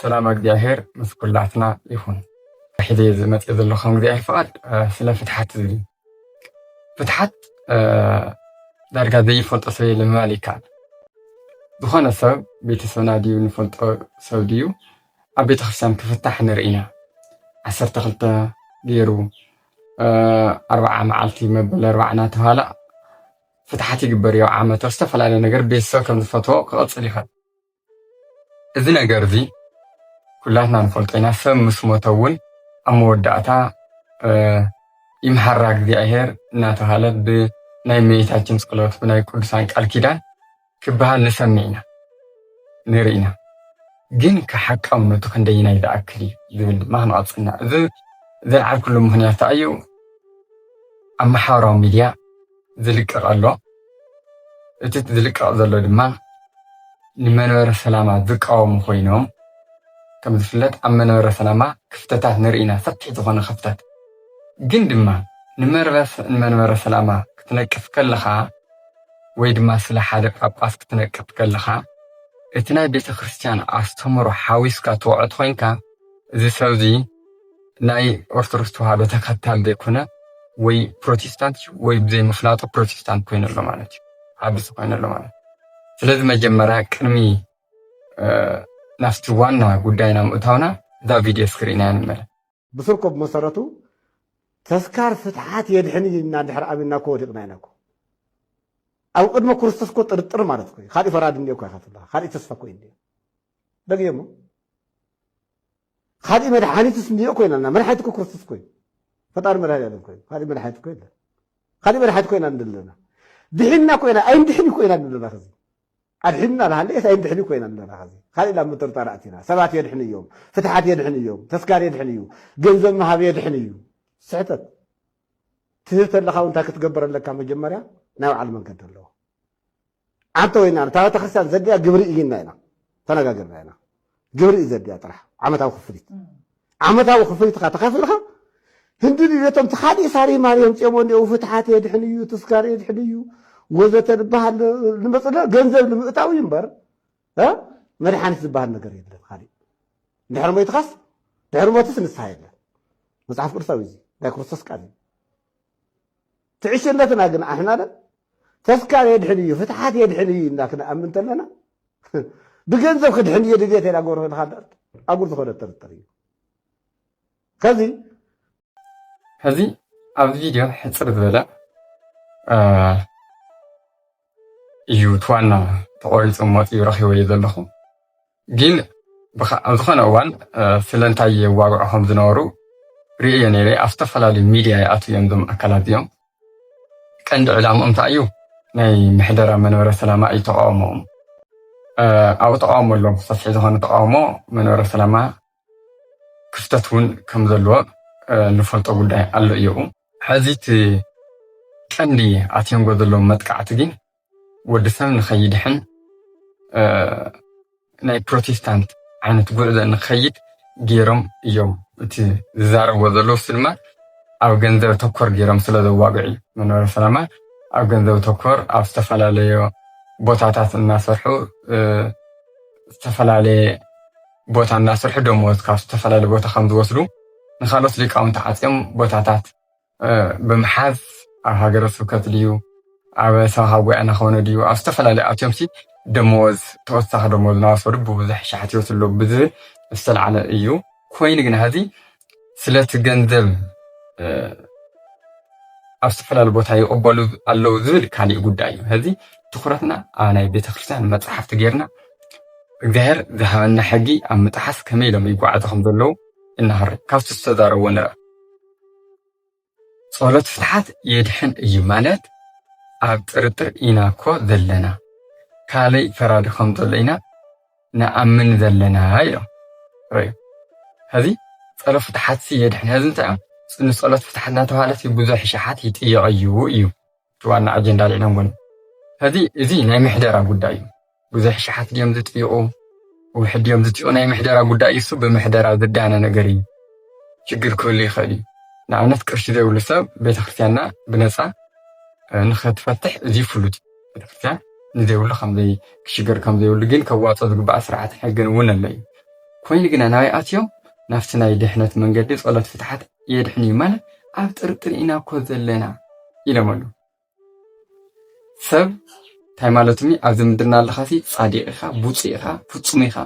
ሰላም ኣግዚኣብሔር ምስ ኩላትና ይኹን ሕዚ ዝመፅእ ዘሎ ከም እግዚኣብሔር ፍቓድ ስለ ፍትሓት ዝብል ፍትሓት ዳርጋ ዘይፈልጦ ሰብ የለ ምባል ይከኣል ዝኾነ ሰብ ቤተሰብና ድዩ ንፈልጦ ሰብ ድዩ ኣብ ቤተክርስትያን ክፍታሕ ንርኢ ኢና ዓሰርተ ክልተ ገይሩ ኣርባዓ መዓልቲ መበል ኣርባዓ እናተባሃለ ፍትሓት ይግበር እዩ ዓመት ዝተፈላለዩ ነገር ቤተሰብ ከም ዝፈትዎ ክቐፅል ይኽእል እዚ ነገር እዚ ኩላትና ንፈልጦ ኢና ሰብ ምስ ሞተ እውን ኣብ መወዳእታ ይምሓራ እግዚኣብሔር እናተባሃለ ብናይ እመቤታችን ጸሎት ብናይ ቅዱሳን ቃል ኪዳን ክበሃል ንሰምዕ ኢና ንርኢ ኢና ግን ከሓቃውነቱ ክንደይናይ ዝኣክል እዩ ዝብል ድማ ክንቐፅልና እዚ ዘልዓልኩሉ ምክንያት ተኣዩ ኣብ ማሕበራዊ ሚድያ ዝልቀቕ ኣሎ። እቲ ዝልቀቕ ዘሎ ድማ ንመንበረ ሰላማ ዝቃወሙ ኮይኖም ከም ዝፍለጥ ኣብ መንበረ ሰላማ ክፍተታት ንርኢ ኢና ሰፊሕ ዝኾነ ክፍተት ግን ድማ ንመንበረ ሰላማ ክትነቅፍ ከለኻ ወይ ድማ ስለ ሓደ ጳጳስ ክትነቅፍ ከለኻ እቲ ናይ ቤተክርስትያን ኣስተምህሮ ሓዊስካ ትወዕት ኮይንካ እዚ ሰብዚ ናይ ኦርቶዶክስ ተዋህዶ ተኸታሊ ዘይኮነ ወይ ፕሮቴስታንት እዩ ወይ ብዘይምፍላጡ ፕሮቴስታንት ኮይኑ ኣሎ ማለት እዩ ዓብሲ ኮይኑ ኣሎ ማለት ስለዚ መጀመርያ ቅድሚ ናብቲ ዋና ጉዳይና ምእታውና እዛ ቪድዮ እስኪ ርኢናያ ንመለ ብስርኮ ብመሰረቱ ተስካር ፍትሓት የድሕን እዩ እና ድሕሪ ኣሚንና እኮ ወዲቕና ኢና እኮ ኣብ ቅድመ ክርስቶስ እኮ ጥርጥር ማለት እኮ ካሊእ ፈራድ እንዲ እኮ ይካትብላ ካሊእ ተስፋ እኮ እዩ እንዲ ደግ እሞ ኻሊእ መድሓኒትስ እንድዮ ኮይናና መድሓኒት እኮ ክርስቶስ ኮይኑ ፈጣሪ መድሃኒኣለም ኮይኑ ኻሊእ መድሓኒት እኮ የለን ኻሊእ መድሓኒት ኮይና ንደለና ድሒና ኮይና ኣይንድሕን እዩ ኮይና ንደለና ኸዚ ኣድሒንና ንሃለየስ ኣይንድሕን እዩ ኮይና ንደለና ኸዚ ኻሊእ ናብ ምጥርጣር ኣእቲና ሰባት የድሕን እዮም ፍትሓት የድሕን እዮም ተስካር የድሕን እዩ ገንዘብ ምሃብ የድሕን እዩ ስሕተት ትህብ ተለኻ እውን እንታይ ክትገብር ኣለካ መጀመርያ ናይ በዓል መንገዲ ኣለዎ ዓንተ ወይና ነታ ቤተክርስትያን ዘድልያ ግብሪ እዩ ኢልና ኢና ተነጋጊርና ኢና። ግብሪ እዩ ዘድልያ ጥራሕ ዓመታዊ ክፍሊት ዓመታዊ ክፍሊትካ ተኸፊልካ ህንዲ ድሌቶም ተኻሊእ ሳሪ ማሪ የምፅኦም እኒኦ ፍትሓት የድሕን እዩ ትስካር የድሕን እዩ ወዘተ ዝበሃል ንመፅለ ገንዘብ ንምእታው እዩ እምበር መድሓኒት ዝበሃል ነገር የለን ካሊእ ድሕሪ ሞይትኻስ ድሕሪ ሞትስ ንስሓ የለን መፅሓፍ ቅዱሳዊ እዚ ናይ ክርስቶስ ቃል እዩ ትዕሽነትና ግን ኣሕና ዶ ተስካር የድሕን እዩ ፍትሓት የድሕን እዩ እና ክንኣምን ተለና ብገንዘብ ክድሕን እየ ድልየት የዳ ጎርሆ ኢልካ ኣጉር ዝኾነ ጥርጥር እዩ ከዚ ሕዚ ኣብዚ ቪድዮ ሕፅር ዝበለ እዩ እቲ ዋና ተቆሪፁ መፂኡ ረኪበዮ ዘለኹ ጊን ኣብ ዝኾነ እዋን ስለንታይ የዋግዑ ከም ዝነበሩ ርእየ ነይረ ኣብ ዝተፈላለዩ ሚድያ ይኣትው እዮም ዞም ኣካላት እዚኦም ቀንዲ ዕላምኦም እንታይ እዩ ናይ ምሕደራ መንበረ ሰላማ እዩ ተቃውሞኦም ኣብኡ ተቃውሞ ኣሎ ሰፊሒ ዝኾነ ተቃውሞ መንበረ ሰላማ ክፍተት እውን ከም ዘለዎ ንፈልጦ ጉዳይ ኣሎ እየኡ ሕዚ እቲ ቀንዲ ኣትየንጎ ዘለዎም መጥቃዕቲ ግን ወዲ ሰብ ንኸይድሕን ናይ ፕሮቴስታንት ዓይነት ጉዕዞ ንኸይድ ገይሮም እዮም እቲ ዝዛረብዎ ዘለዉ እሱ ድማ ኣብ ገንዘብ ተኮር ገይሮም ስለ ዘዋግዑ እዩ። መንበረ ሰላማ ኣብ ገንዘብ ተኮር ኣብ ዝተፈላለዮ ቦታታት እናሰርሑ ዝተፈላለየ ቦታ እናሰርሑ ደመወዝ ካብ ዝተፈላለየ ቦታ ከም ዝወስዱ ንካልኦት ሊቃውንቲ ዓፅዮም ቦታታት ብምሓዝ ኣብ ሃገረ ስብከት ድዩ ኣብ ሰበኻ ጉባኤ እናኾነ ድዩ ኣብ ዝተፈላለዩ ኣትዮምሲ ደመወዝ ተወሳኺ ደመወዝ እናወሰዱ ብብዙሕ ሸሓት ይወስዱ ኣለዉ ብዝብል ዝተላዕለ እዩ። ኮይኑ ግን ሀዚ ስለቲ ገንዘብ ኣብ ዝተፈላለዩ ቦታ ይቕበሉ ኣለዉ ዝብል ካሊእ ጉዳይ እዩ። ሀዚ ትኩረትና ኣብ ናይ ቤተክርስትያን መፅሓፍቲ ጌርና እግዚኣብሔር ዝሃበና ሕጊ ኣብ ምጥሓስ ከመይ ኢሎም ይጓዓዙ ከም ዘለዉ እናሃሪ ካብቲ ዝተዛረብዎ ንረ ጸሎት ፍትሓት የድሕን እዩ ማለት ኣብ ጥርጥር ኢና እኮ ዘለና ካልይ ፈራዲ ከም ዘሎ ኢና ንኣምን ዘለና ኢሎም ረዩ ሕዚ ጸሎት ፍትሓት የድሕን ሕዚ እንታይ እዮም ንጸሎት ፍትሓት እናተባህለት ብዙሕ ሸሓት ይጥየቐ እዩ እዩ እቲ ዋና ኣጀንዳ ኣልዒሎምዎ እዮም። ሕዚ እዚ ናይ ምሕደራ ጉዳይ እዩ። ብዙሕ ሸሓት ድዮም ዝጥይቑ ውሕድ ድዮም ዝጥይቑ ናይ ምሕደራ ጉዳይ እዩ። እሱ ብምሕደራ ዝዳነ ነገር እዩ። ሽግር ክህሉ ይኽእል እዩ። ንኣብነት ቅርሺ ዘይብሉ ሰብ ቤተክርስትያንና ብነፃ ንኸትፈትሕ እዚ ፍሉጥ ቤተክርስትያን ንዘይብሉ ከምዘይ ክሽገር ከምዘይብሉ ግን ከዋፆ ዝግባእ ስርዓት ሕግን እውን ኣሎ እዩ ኮይኑ ግና ናበይ ኣትዮም ናብቲ ናይ ድሕነት መንገዲ ጸሎት ፍትሓት የድሕን እዩ ማለት ኣብ ጥርጥር ኢና እኮ ዘለና ኢሎም ኣሉ ሰብ እንታይ ማለትም እዩ ኣብዚ ምድርና ኣለካ ሲ ፃዲቅ ኢካ ቡፁ ኢካ ፍፁም ኢካ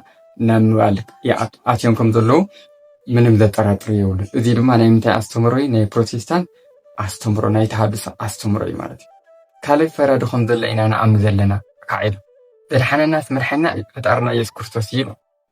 ናብ ምባል ኣትዮም ከም ዘለዉ ምንም ዘጠራጥር የብሉ እዚ ድማ ናይ ምንታይ ኣስተምሮ እዩ ናይ ፕሮቴስታንት ኣስተምሮ ናይ ተሃድሶ ኣስተምሮ እዩ ማለት እዩ ካልእ ፈራዲ ከም ዘሎ ኢና ንኣምን ዘለና ካዕ ኢሉ ዘድሓነናስ መድሓና እዩ ፈጣርና የሱስ ክርስቶስ እዩ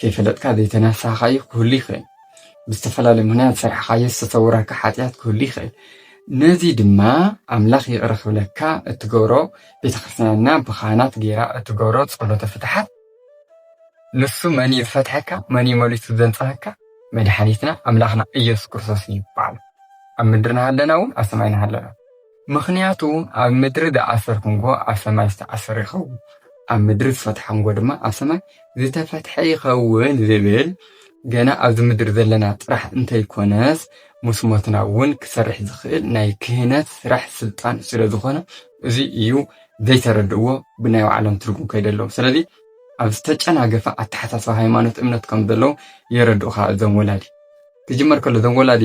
ከይፈለጥካ ዘይተናሳኻዮ ክህሉ ይኽእል። ብዝተፈላለየ ምክንያት ዝሰራሕኻዮ ዝተሰውረካ ሓጢኣት ክህሉ ይኽእል። ነዚ ድማ ኣምላኽ ይቕረ ክብለካ እትገብሮ ቤተ ክርስትያንና ብኻህናት ገይራ እትገብሮ ጸሎተ ፍትሓት ንሱ መን እዩ ዝፈትሐካ መን እዩ መሊሱ ዘንጽሃካ መድሓኒትና ኣምላኽና ኢየሱስ ክርስቶስ እዩ ይበሃል ኣብ ምድሪ ናሃለና እውን ኣብ ሰማይ ናሃለና ምኽንያቱ ኣብ ምድሪ ዝኣሰር ክንጎ ኣብ ሰማይ ዝተኣሰረ ይኸውን፣ ኣብ ምድሪ ዝፈትሐ ክንጎ ድማ ኣብ ሰማይ ዝተፈትሐ ይኸውን ዝብል ገና ኣብዚ ምድሪ ዘለና ጥራሕ እንተይኮነስ ምስ ሞትና እውን ክሰርሕ ዝኽእል ናይ ክህነት ስራሕ ስልጣን ስለ ዝኾነ እዚ እዩ ዘይተረድእዎ ብናይ ባዕሎም ትርጉም ከይደለዉ ስለዚ ኣብ ዝተጨናገፈ ኣተሓሳስባ ሃይማኖት እምነት ከም ዘለዉ የረድኡኻ እዞም ወላዲ ክጅመር ከሎ እዞም ወላዲ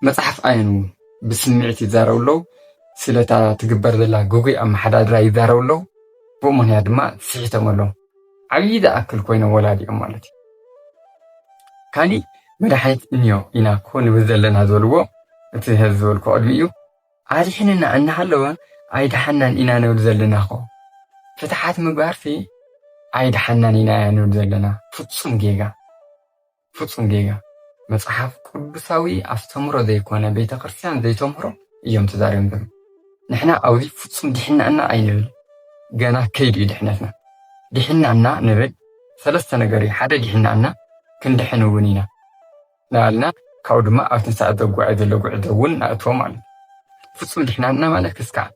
መጽሓፍ ኣየን እውን ብስምዒት ይዛረቡ ኣለዉ፣ ስለታ ትግበር ዘላ ግጉይ ኣመሓዳድራ ይዛረቡ ኣለዉ፣ ብኡ ምክንያት ድማ ስሒቶም ኣለዉ። ዓብዪ ዝኣክል ኮይኖም ወላዲኦም ማለት እዩ። ካሊእ መድሓኒት እንዮ ኢና እኮ ንብል ዘለና ዝበልዎ እቲ ህዝ ዝበልኩ ቅድሚ እዩ ኣድሒንና እናሃለወ ኣይድሓናን ኢና ንብል ዘለና ኮ ፍትሓት ምግባርሲ ኣይድሓናን ኢና እያ ንብል ዘለና ፍፁም ጌጋ ፍጹም ጌጋ መጽሓፍ ቅዱሳዊ ኣስተምህሮ ዘይኮነ ቤተ ክርስትያን ዘይተምህሮ እዮም ተዛርዮም ዘለዉ ንሕና ኣብዚ ፍጹም ዲሕና እና ኣይንብል ገና ከይዱ እዩ ድሕነትና ዲሕና እና ንብል ሰለስተ ነገር እዩ ሓደ ዲሕና እና ክንድሕን እውን ኢና ናልና ካብኡ ድማ ኣብ ትንሳኤ ዘጓዓይ ዘሎ ጉዕዞ እውን ንኣትዎ ማለት ፍጹም ድሕናና ማለት ክስካዕ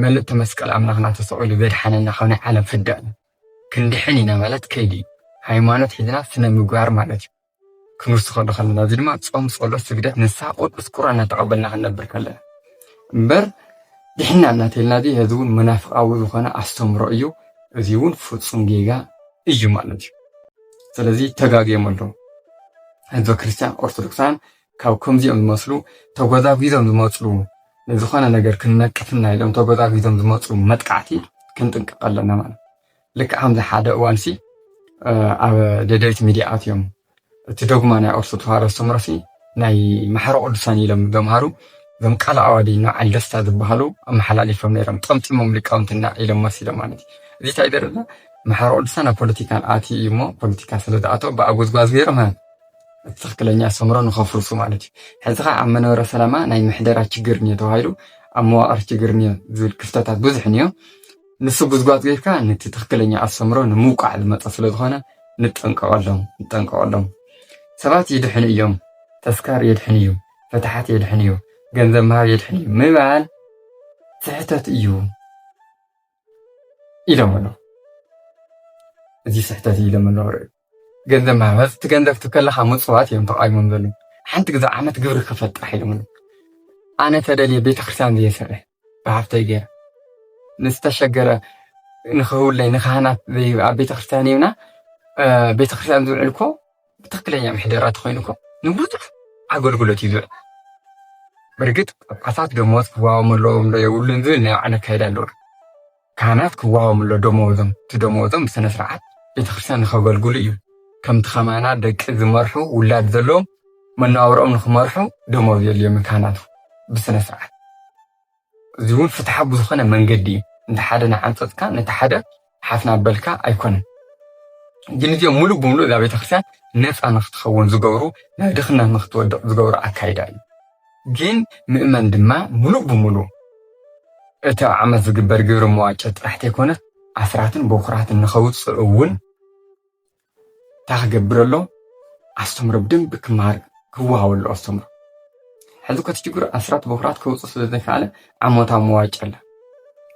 መልእቲ መስቀል ኣምላኽና ተሰቂሉ ዘድሓነና ካብ ናይ ዓለም ፍዳ እዩ ክንድሕን ኢና ማለት ከይዲ እዩ። ሃይማኖት ሒዝና ስነ ምግባር ማለት እዩ። ክንውስኸሉ ከለና እዚ ድማ ጾም፣ ጸሎት፣ ስግደት፣ ንስሓ ቅዱስ ቁርኣን እናተቐበልና ክንነብር ከለና እምበር ድሕና እናተልና እዚ እዚ እውን መናፍቃዊ ዝኾነ ኣስተምሮ እዩ። እዚ እውን ፍጹም ጌጋ እዩ ማለት እዩ። ስለዚ ተጋግዮም ኣለዉ ህዝበ ክርስቲያን ኦርቶዶክሳን ካብ ከምዚኦም ዝመስሉ ተጎዛጒዞም ዝመፁ ንዝኾነ ነገር ክንነቅፍና ኢሎም ተጎዛጒዞም ዝመፁ መጥቃዕቲ ክንጥንቀቕ ኣለና ማለት ልክዕ ከምዚ ሓደ እዋን ሲ ኣብ ደደቢት ሚድያ ኣትዮም እቲ ዶግማ ናይ ኦርቶዶክስ ተዋህዶ ኣስተምህሮ ሲ ናይ ማሕረ ቅዱሳን ኢሎም ዘምሃሩ እዞም ቃል ኣዋዲ ንበዓል ደስታ ዝበሃሉ ኣመሓላሊፎም ነይሮም ጠምጢሞም ሊቃውንትና ኢሎም መሲሎም ማለት እዩ እዚ እንታይ ይደርብና ማሕረ ቅዱሳን ኣብ ፖለቲካን ኣትዩ እዩ እሞ ፖለቲካ ስለ ዝኣተው ብኣጎዝጓዝ ገይሮም እቲ ትኽክለኛ ኣስተምህሮ ንኸፍርሱ ማለት እዩ። ሕዚ ከዓ ኣብ መንበረ ሰላማ ናይ ምሕደራ ችግር እኒኦ ተባሂሉ ኣብ መዋቕር ችግር እኒኦ ዝብል ክፍተታት ብዙሕ እኒኦ። ንሱ ጉዝጓዝ ገይርካ ነቲ ትኽክለኛ ኣስተምህሮ ንምውቃዕ ዝመፀ ስለ ዝኾነ ንጠንቀቐሎም ንጠንቀቐሎም። ሰባት ይድሕኑ እዮም፣ ተስካር የድሕን እዩ፣ ፍትሓት የድሕን እዩ፣ ገንዘብ ምሃብ የድሕን እዩ ምባል ስሕተት እዩ ኢሎም ኣለዉ። እዚ ስሕተት እዩ ኢሎም ኣለዉ። ገንዘብ ማህበር እቲ ገንዘብ ትከለካ ምፅዋት እዮም ተቃዊሞም ዘሉ ሓንቲ ግዛ ዓመት ግብሪ ክፈል ጥራሕ ኢሎም ኣነ ተደልየ ቤተክርስትያን ዘየሰርሕ ብሃፍተይ ገይረ ንዝተሸገረ ንክህውለይ ንካህናት ኣብ ቤተክርስትያን ይብና ቤተክርስትያን ዝውዕል እኮ ብትክክለኛ ምሕደራ ተኮይኑ እኮ ንብዙሕ ኣገልግሎት እዩ ዝውዕል ብርግጥ ጳጳሳት ደሞዝ ክዋወም ኣለዎም ዶ የብሉን ዝብል ናይ ባዕሉ ኣካይዳ ኣለዎ ካህናት ክዋሃቦም ኣሎ ደመወዞም፣ እቲ ደመወዞም ብስነ ስርዓት ቤተክርስትያን ንኸገልግሉ እዩ፣ ከምቲ ከማና ደቂ ዝመርሑ ውላድ ዘለዎም መነባብሮኦም ንኽመርሑ ደመወዝ የድልዮም እዩ ካህናት ብስነ ስርዓት እዚ እውን ፍትሓ ብዝኾነ መንገዲ እዩ እንተ ሓደ ንዓንጸጽካ ነቲ ሓደ ሓፍና በልካ ኣይኮነን ግን እዚኦም ሙሉእ ብምሉእ እዛ ቤተክርስትያን ነፃ ንክትኸውን ዝገብሩ ናይ ድኽነት ንክትወድቕ ዝገብሩ ኣካይዳ እዩ ግን ምእመን ድማ ምሉእ ብምሉእ እቲ ኣብ ዓመት ዝግበር ግብረ መዋጮ ጥራሕ ተይኮነት ኣስራትን በኩራትን ንኸውፅእ እውን እንታይ ክገብር ኣለዎ? ኣስተምሮ ብደንቢ ክመሃር ክወሃቦ ኣለዎ ኣስተምሮ። ሕዚ እኮ እቲ ችግሩ ኣስራት በኩራት ከውፅእ ስለ ዘይከኣለ ዓመታዊ መዋጮ ኣለ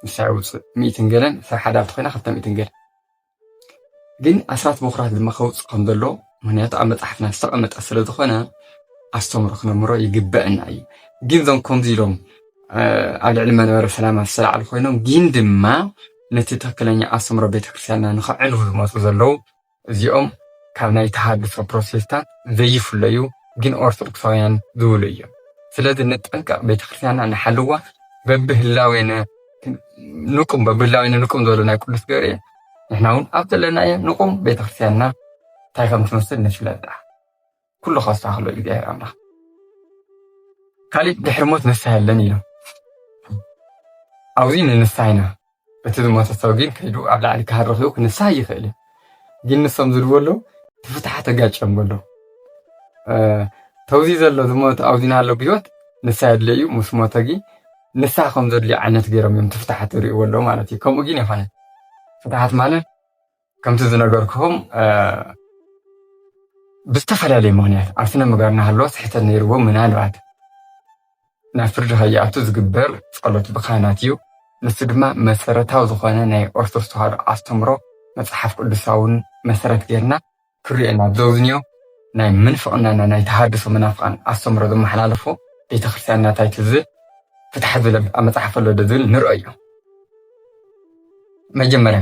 ንሳ የውፅእ ሚእትን ገለን ሰብ ሓዳር ተኾይና ክልተ ሚእትን ገለን ግን ኣስራት በኩራት ድማ ከውፅእ ከም ዘሎ ምክንያቱ ኣብ መፅሓፍና ዝተቐመጠ ስለ ዝኾነ ኣስተምሮ ክነምሮ ይግበአና እዩ ግን ዞም ከምዚ ኢሎም ኣብ ልዕሊ መንበረ ሰላማ ዝተላዕሉ ኮይኖም ግን ድማ ነቲ ትክክለኛ ኣስተምሮ ቤተክርስትያንና ንክዕንው ዝመፁ ዘለው እዚኦም ካብ ናይ ተሃድሶ ፕሮቴስታንት ዘይፍለዩ ግን ኦርቶዶክሳውያን ዝብሉ እዮም ስለዚ ንጠንቀቕ ቤተክርስትያንና ንሓልዋ በብህላዌነ ንቁም በብላዊ ንቁም ዝበሉ ናይ ቅዱስ ገርኤ ንሕና እውን ኣብ ዘለናዮ ንቁም ቤተክርስትያንና እንታይ ከም ትመስል ንፍለጣ ኩሉ ከስተካክሎ እግዚኣብሔር ኣምላኽ ካሊእ ድሕሪ ሞት ንስሓ የለን ኢሎም ኣብዚ ንንስሓ ኢና እቲ ዝሞተ ሰብ ግን ከይዱ ኣብ ላዕሊ ክሃርኽ እዩ ክንስሓ ይኽእል እዩ ግን ንሶም ዝብሉ ዘለዉ እቲ ፍትሓ ተጋጭዮም በሎ ተውዚ ዘሎ ዝሞት ኣብዚና ኣሎ ብሂወት ንሳ የድለ እዩ ምስ ሞተ ጊ ንሳ ከም ዘድልዮ ዓይነት ገይሮም እዮም ትፍትሓት ዝርእይዎ ኣለዉ ማለት እዩ ከምኡ ግን ይኮነ ፍትሓት ማለት ከምቲ ዝነገርክኹም ብዝተፈላለየ ምክንያት ኣብ ስነ ምግባር ናሃለወ ስሕተት ነይርዎ ምናልባት ናብ ፍርዲ ከይኣቱ ዝግበር ጸሎት ብካህናት እዩ። ንሱ ድማ መሰረታዊ ዝኾነ ናይ ኦርቶዶክስ ተዋህዶ ኣስተምሮ መጽሓፍ ቅዱሳውን መሰረት ጌርና ክርዮ ኢና ዘውዝንዮ ናይ ምንፍቅናና ናይ ተሃድሶ መናፍቃን ኣስተምሮ ዘመሓላለፎ ቤተክርስትያን ናታይ ትዝል ፍትሓት ዝብል ኣብ መጽሓፍ ኣሎ ዶ ዝብል ንርኦዮ መጀመርያ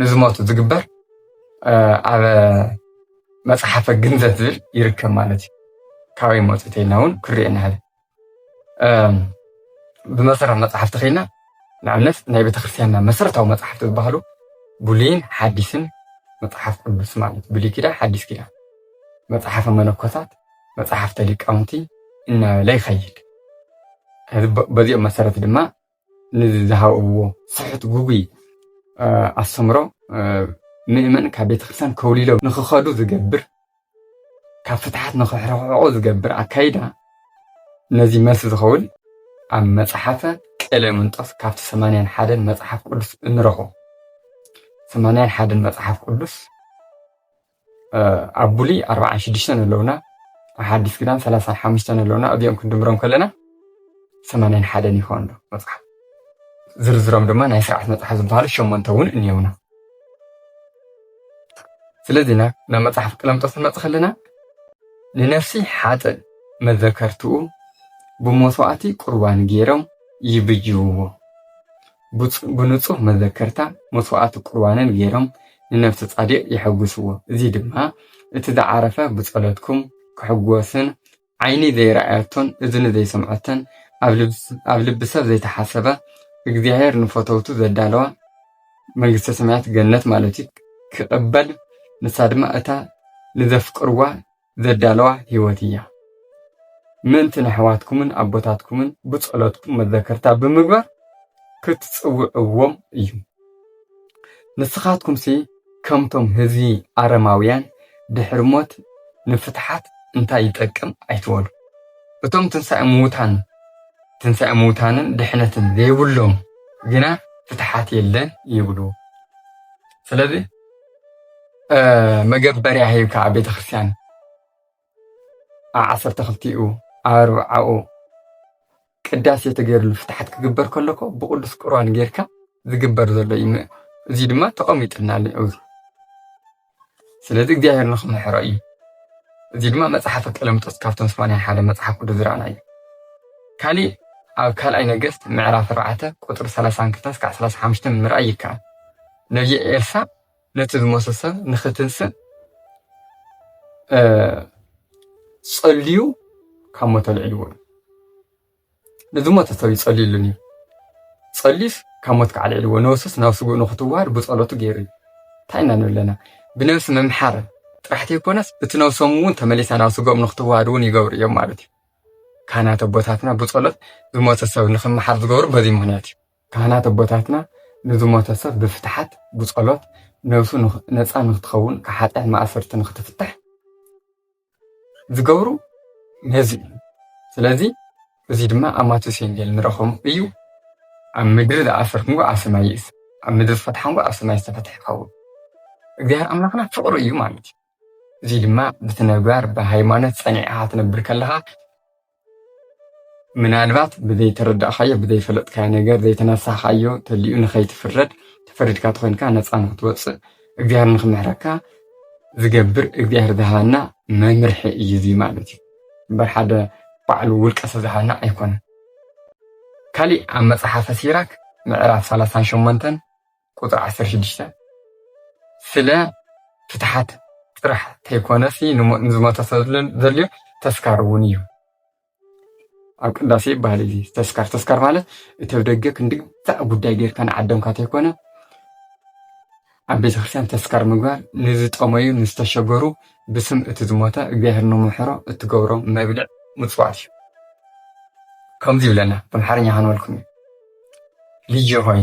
ንዝሞቱ ዝግበር ኣብ መፅሓፈ ግንዘት ዝብል ይርከብ ማለት እዩ ካበይ መፁ ተይልና እውን ክርኤ ንሕል ብመሰረት መፅሓፍ ተኸይና ንኣብነት ናይ ቤተክርስትያንና መሰረታዊ መፅሓፍቲ ዝበሃሉ ብሉይን ሓዲስን መፅሓፍ ቅዱስ ማለት ብሉይ ኪዳን ሓዲስ ኪዳን መፅሓፈ መነኮሳት መፅሓፍተ ሊቃውንቲ እናበለ ይኸይድ በዚኦም መሰረት ድማ ንዝሃብዎ ስሑት ግጉይ ኣስተምህሮ ምእመን ካብ ቤተ ክርስቲያን ከውሊሎም ንክኸዱ ዝገብር ካብ ፍትሓት ንክሕርሕቆ ዝገብር ኣካይዳ ነዚ መልሲ ዝኸውን ኣብ መጽሓፈ ቀሌምንጦስ ካብቲ ሰማንያን ሓደን መጽሓፍ ቅዱስ እንረኽቦ ሰማንያን ሓደን መጽሓፍ ቅዱስ ኣብ ብሉይ ኣርብዓን ሽዱሽተን ኣለውና ሓዲስ ኪዳን ሰላሳን ሓሙሽተን ኣለውና እዚኦም ክንድምሮም ከለና ሰማንያን ሓደን ይኸውን ኣሎ መፅሓፍ ዝርዝሮም ድማ ናይ ስርዓት መፅሓፍ ዝበሃሉ ሸሞንተ እውን እኒየውና ስለዚ ናብ መፅሓፍ ቀለምጦስ ንመፅ ከለና ንነፍሲ ሓጥእ መዘከርትኡ ብመስዋእቲ ቁርባን ገይሮም ይብጅውዎ ብንጹህ መዘከርታ መስዋዕቲ ቁርባንን ገይሮም ንነፍሲ ጻዲቕ የሐጉስዎ እዚ ድማ እቲ ዝዓረፈ ብጸሎትኩም ክሕጎስን ዓይኒ ዘይረኣየቶን እዝኒ ዘይሰምዐቶን ኣብ ልቢ ሰብ ዘይተሓሰበ እግዚኣብሔር ንፈተውቱ ዘዳለዋ መንግስተ ሰማያት ገነት ማለት እዩ ክቕበል ንሳ ድማ እታ ንዘፍቅርዋ ዘዳለዋ ህይወት እያ። ምእንቲ ነሕዋትኩምን ኣቦታትኩምን ብጸሎትኩም መዘከርታ ብምግባር ክትጽውዕዎም እዩ። ንስኻትኩምሲ ከምቶም ህዝቢ ኣረማውያን ድሕሪ ሞት ንፍትሓት እንታይ ይጠቅም ኣይትበሉ። እቶም ትንሳኤ ምዉታን ትንሳኤ ምዉታንን ድሕነትን ዘይብሎም ግና ፍትሓት የለን ይብሉ። ስለዚ መገበርያ ሂብካ ኣብ ቤተ ክርስቲያን ኣብ ዓሰርተ ክልቲኡ ኣብ ኣርብዓኡ ቅዳሴ ተገይርሉ ፍትሓት ክግበር ከሎ እኮ ብቅዱስ ቁርባን ጌርካ ዝግበር ዘሎ እዩ። እዚ ድማ ተቐሚጥና ኣሎ ኣብዚ ስለዚ እግዚኣብሔር ንክምሕሮ እዩ። እዚ ድማ መፅሓፈ ቀለምጦስ ካብቶም ስማንያ ሓደ መፅሓፍ ቅዱስ ዝረኣና እዩ። ካሊእ ኣብ ካልኣይ ነገስት ምዕራፍ ኣርባዕተ ቁፅሪ ሰላሳን ክልተን እስካዕ ሰላሳ ሓሙሽተን ምርኣይ ይከኣል። ነቢይ ኤልሳ ነቲ ዝሞተ ሰብ ንክትንስእ ጸልዩ ካብ ሞት ኣልዕልዎ ንዝሞተ ሰብ እዩ ጸልዩሉን እዩ ጸልዩስ ካብ ሞት ከዓ ኣልዕልዎ ነብሱስ ናብ ስጉእ ንክትዋሃድ ብጸሎቱ ገይሩ እዩ እንታይ ኢና ንብል ኣለና ብነብሲ ምምሓር ጥራሕ ዘይኮነስ እቲ ነብሶም እውን ተመሊሳ ናብ ስጎኦም ንክትዋሃድ እውን ይገብሩ እዮም ማለት እዩ ካህናት ኣቦታትና ብጸሎት ዝሞተ ሰብ ንክመሓር ዝገብሩ በዚ ምክንያት እዩ ካህናት ኣቦታትና ንዝሞተ ሰብ ብፍትሓት ብጸሎት ነብሱ ነጻ ንክትኸውን ካብ ሓጢኣት ማእሰርቲ ንክትፍታሕ ዝገብሩ ነዚ እዩ ስለዚ እዚ ድማ ኣብ ማቴዎስ ወንጌል ንረኽቦም እዩ ኣብ ምድሪ ዝኣሰርኩምዎ ኣብ ሰማይ ይእሰር ኣብ ምድሪ ዝፈትሓምዎ ኣብ ሰማይ ዝተፈትሐ ይኸውን እግዚኣብሔር ኣምላኽና ፍቕሪ እዩ ማለት እዩ እዙይ ድማ ብትነግባር ብሃይማኖት ፀኒዕኻ ትነብር ከለኻ ምናልባት ብዘይተረዳእኻዮ ብዘይፈለጥካዮ ነገር ዘይተነሳኻዮ ተሊኡ ንኸይትፍረድ ተፈሪድካ ተኾይንካ ነፃ ንክትወፅእ እግዚኣብሔር ንክምሕረካ ዝገብር እግዚኣብሔር ዝሃበና መምርሒ እዩ እዚ ማለት እዩ እምበር ሓደ ባዕሉ ውልቀ ሰብ ዝሃበና ኣይኮነን ካሊእ ኣብ መፅሓፈ ሲራክ ምዕራፍ ሰላሳን ሸሞንተን ቁጽሪ ዓሰርተ ሽዱሽተ ስለ ፍትሓት ጥራሕ ተይኮነሲ ንዝሞተ ሰብ ዘድልዮ ተስካር እውን እዩ። ኣብ ቅዳሴ ይበሃል እዚ ተስካር ተስካር ማለት እቲ ኣብ ደገ ክንድግዛዕ ጉዳይ ጌርካ ንዓደምካ ተይኮነ ኣብ ቤተ ክርስቲያን ተስካር ምግባር ንዝጠመዩ ንዝተሸገሩ ብስም እቲ ዝሞተ እግዚኣብሔር ንምሕሮ እትገብሮ መብልዕ ምፅዋት እዩ ከምዚ ይብለና ብኣምሓርኛ ከንበልኩም እዩ ልጅ ሆይ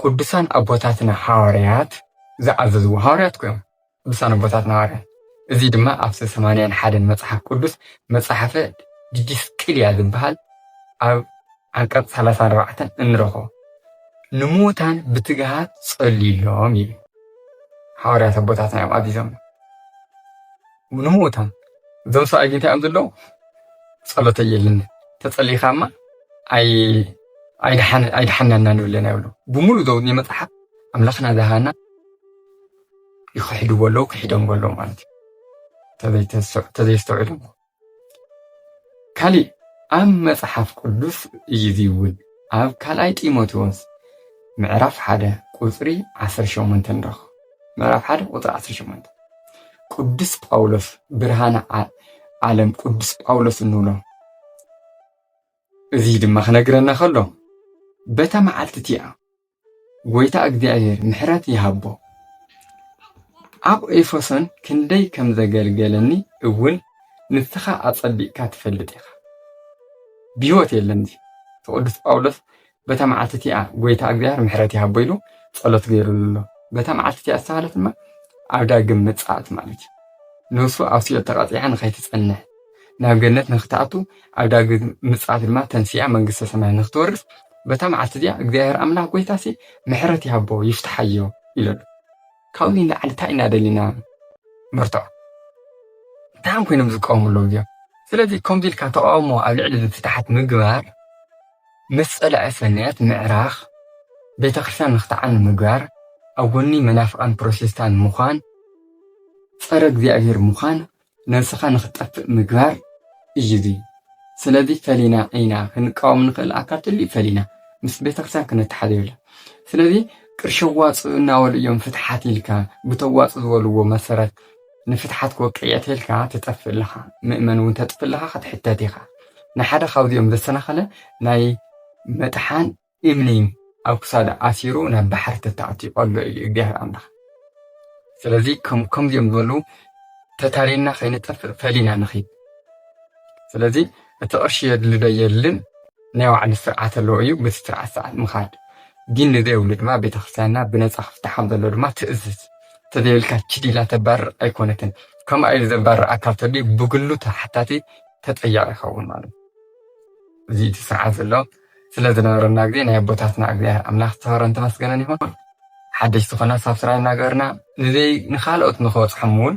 ቅዱሳን ኣቦታትና ሓዋርያት ዝኣዘዝዎ ሃዋርያት እኮ እዮም ቅዱሳን ኣቦታትና ሃዋርያት እዚ ድማ ኣብቲ ሰማንያን ሓደን መጽሓፍ ቅዱስ መጽሓፈ ዲዲስቅልያ ዝበሃል ኣብ ዓንቀጽ ሰላሳን ኣርባዕተን እንረኽቦ ንምዉታን ብትግሃት ጸልዩሎም ይብል ሓዋርያት ኣቦታትና እዮም ኣዚዞም ንምውታን እዞም ሰብኣይ ግን እንታይ እዮም ዘለዉ ጸሎተ የልን ተጸሊኻማ ኣይድሓናና ንብለና ይብሉ ብሙሉ ዘውኒ መፅሓፍ ኣምላኽና ዝሃና ይክሕድዎ ኣለዉ ክሒዶም ኣለዉ ማለት እዩ ተዘይስተውዕሎም ካሊእ ኣብ መፅሓፍ ቅዱስ እዩ እዚ እውን ኣብ ካልኣይ ጢሞቴዎስ ምዕራፍ ሓደ ቁፅሪ ዓሰርተ ሸሞንተ ንረኽቦ ምዕራፍ ሓደ ቁፅሪ ዓሰርተ ሸሞንተ ቅዱስ ጳውሎስ ብርሃነ ዓለም ቅዱስ ጳውሎስ እንብሎ እዚ ድማ ክነግረና ከሎ በታ መዓልቲ እቲኣ ጎይታ እግዚኣብሔር ምሕረት ይሃቦ ኣብ ኤፌሶን ክንደይ ከም ዘገልገለኒ እውን ንስኻ ኣጸቢቕካ ትፈልጥ ኢኻ። ብህይወት የለን እዚ ቅዱስ ጳውሎስ በታ መዓልቲ እቲኣ ጎይታ እግዚኣብሔር ምሕረት ይሃቦ ኢሉ ጸሎት ገይሩሉ ኣሎ። በታ መዓልቲ እቲኣ ዝተባህለት ድማ ኣብ ዳግም ምጽኣት ማለት እዩ። ነፍሱ ኣብ ሲኦል ተቐጺዓ ንኸይትጸንሕ ናብ ገነት ንክትኣቱ ኣብ ዳግም ምጽኣት ድማ ተንሲኣ መንግስተ ሰማይ ንክትወርስ በታ መዓልቲ እዚኣ እግዚኣብሔር ኣምላኽ ጎይታሲ ምሕረት ይሃቦ ይፍትሓዮ ኢሉ ኣሎ ካብኡ ንላዕሊ እንታይ ኢና ደሊና መርትዖ እንታይ ኮይኖም ዝቃወሙ ኣለዉ እዚኦም ስለዚ ከምዚ ኢልካ ተቃውሞ ኣብ ልዕሊ ፍትሓት ምግባር ምስ ጸላኢ ሰናያት ምዕራኽ፣ ቤተክርስትያን ንክትዓኑ ምግባር፣ ኣብ ጎኒ መናፍቃን ፕሮቴስታን ምዃን፣ ጸረ እግዚኣብሔር ምዃን፣ ነብስኻ ንክትጠፍእ ምግባር እዩ እዚ ስለዚ ፈሊና ኢና ክንቃወም ንክእል ኣካል ትልዩ ፈሊና ምስ ቤተክርስትያን ክንተሓዝ የብላ ስለዚ ቅርሺ ኣዋጽኡ እናበሉ እዮም ፍትሓት ኢልካ ብተዋጽኡ ዝበልዎ መሰረት ንፍትሓት ክወቅዕ እየ ተልካ ትጠፍእ ኣለኻ ምእመን እውን ተጥፍእ ኣለኻ ክትሕተት ኢኻ ንሓደ ካብዚኦም ዘሰናኸለ ናይ መጥሓን እምኒ ኣብ ክሳዱ ኣሲሩ ናብ ባሕሪ ተታዕትዩ ኣሎ እዩ እግዚኣብሔር ኣምላኽ ስለዚ ከምዚኦም ዝበሉ ተታሊልና ከይንጠፍእ ፈሊና ንኺድ ስለዚ እቲ ቅርሺ የድልዶ የልን ናይ ባዕሉ ስርዓት ኣለዎ እዩ በቲ ስርዓት ሰዓት ምኻድ ዲን ንዘይብሉ ድማ ቤተክርስትያንና ብነፃ ክፍታሕ ከምዘለዎ ድማ ትእዝዝ ተዘይብልካ ችድ ኢላ ተባርር ኣይኮነትን ከምኣ ኢሉ ዘባርር ኣካል ተልዩ ብግሉ ተሓታቲ ተጠያቂ ይኸውን ማለት እዚ እቲ ስርዓት ዘሎ ስለ ዝነበረና ግዜ ናይ ኣቦታትና እግዚኣብሔር ኣምላኽ ዝተኸረን ተመስገነን ይኹን ሓደሽ ዝኾና ሳብስራይ እናገበርና ንዘይ ንካልኦት ንክበፅሖም እውን